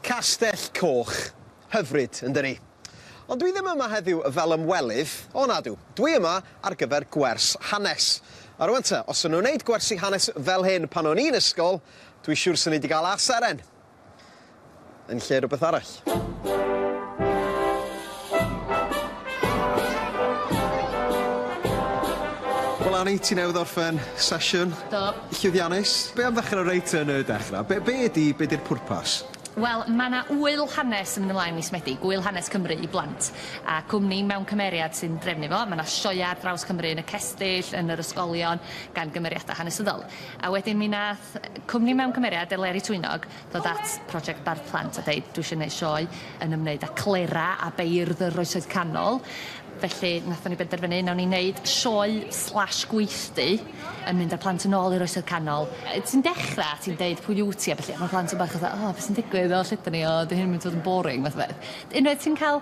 Castell Coch. Hyfryd, yndydi? Ond dwi ddim yma heddiw fel ymwelydd, o nadw, dwi yma ar gyfer gwers hanes. A rwan te, os o'n nhw'n neud gwersi hanes fel hyn pan o'n i'n ysgol, dwi siwr swn i 'di ga'l A seren yn lle rwbeth arall. Wel Annie, ti newydd orffen sesiwn. Do. Llwyddiannus. Be' am ddechre reit yn y dechre? Be' be' ydi be' di'r pwrpas? Wel, ma' 'na ŵyl hanes yn mynd ymlaen mis Medi, gŵyl hanes Cymru i blant, a cwmni mewn cymeriad sy'n drefnu fo, ma' 'na sioea ar draws Cymru yn y cestyll, yn yr ysgolion gan gymeriada hanesyddol. A wedyn mi nath yy cwmni mewn cymeriad Eleri Twynog ddod at Project Bardd Plant a deud dwi eisiau gwneud sioe yn ymwneud â clera a beirdd yr Oesoedd Canol, felly wnaethon ni benderfynu wnawn ni wneud sioe slash gweithdy yn mynd â plant yn ôl i'r Oesoedd Canol. Ti'n dechrau a ti'n deud pwy wyt ti a ballu a ma' plant yn bach fatha 'o be' sy'n digwydd o lle 'dyn ni o 'di hyn yn mynd i fod yn boring' fath o beth. Unwaith ti'n ca'l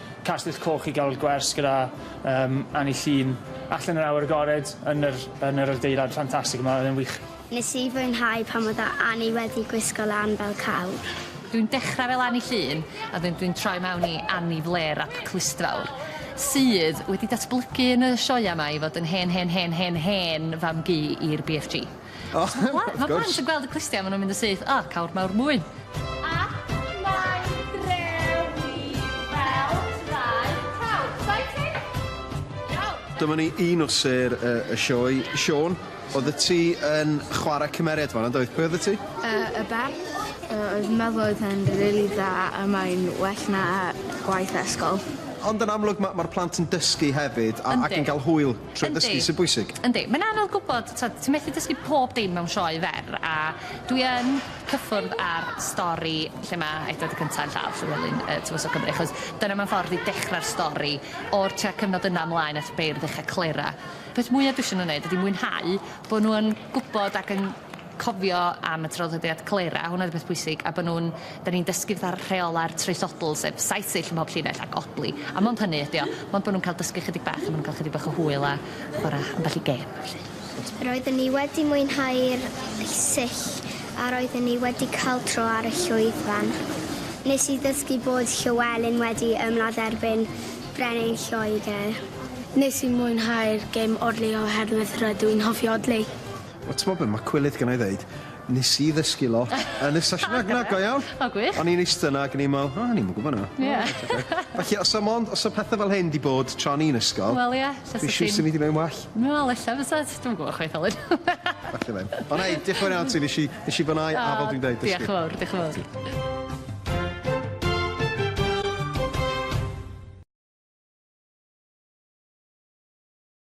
Castell Coch i gael gwers gyda um, Annie Llun allan yr awyr agored yn yr, yn yr adeilad ffantastig yma, oedd e'n wych. Nes i fwynhau pan oedd Annie wedi gwisgo lan fel cawr. Dwi'n dechrau fel Annie Llun a wedyn dwi'n troi mewn i Annie Flêr ap Clustfawr, sydd wedi datblygu yn y sioeau 'ma i fod yn hen hen hen hen hen fam-gu i'r BFG. O wrth gwrs. Wel ma' plant yn gweld y clustiau ma' nw'n mynd yn syth o cawr mawr mwyn. Ac mae'n drewi fel traed prawf. Exciting? Iawn. Dyma ni un o sêr y y sioe. Siôn, oddet ti yn chware cymeriad fanna yndoedd? Pwy oddet ti? Yy y berf yy oedd yn meddwl oedd e'n rili dda a mae'n well na gwaith ysgol. Ond yn amlwg ma' ma'r plant yn dysgu hefyd a... Yndi. ...ac yn ga'l hwyl Trwy ddysgu sy'n bwysig. Yndi. Mae'n anodd gwybod, tibod, ti methu dysgu pob dim mewn sioe fer, a dwi yn cyffwrdd â'r stori lle mae Edward y Cynta' yn lladd Llywelyn yy Tywysog Cymru, achos dyna mewn ffordd i dechrau'r stori, o'r tua cyfnod yna ymlaen at y beirdd ucha' Clera. Peth mwya' dwi isio nhw wneud ydi mwynhau bod nhw yn gwybod ac yn cofio am y traddodiad Clera, hwnna oedd y peth pwysig, a bod nhw'n, da ni'n dysgu fatha rheolau'r traethsodl, sef saith sill ym mhob llinell ac odli, a mond hynny ydy o, mond bod nhw'n cael dysgu chydig bach a maen nhw'n cael chydig bach o hwyl a chwarae ambell i gêm a ballu. Roedden ni wedi mwynhau'r sill a roedden ni wedi cael tro ar y llwyfan. Nes i ddysgu bod Llywelyn wedi ymladd erbyn Brenin Lloegr. Nes i mwynhau'r gêm odli oherwydd rydw i'n hoffi odli. O t'mod be ma cwilydd gennai ddeud nes i ddysgu lot yn y sesiwn na na go iawn. O gwych. O'n i'n ista yna ag o'n i me'wl o o'n i'm yn gwbo na. Ie. Felly os o'm ond os o pethe fel hyn 'di bod tra o'n i'n ysgol. Wel ie jyst y thing. Dwi siŵr sa fi 'di neud yn well. Wel ella fysa t- dwi'm yn gwbo chwaith Alun. Falle ddim. Ond hei diolch yn fawr iawn ti nes i nes i fwyn'au a fel dwi'n deud dysgu. Diolch yn fowr diolch yn fowr.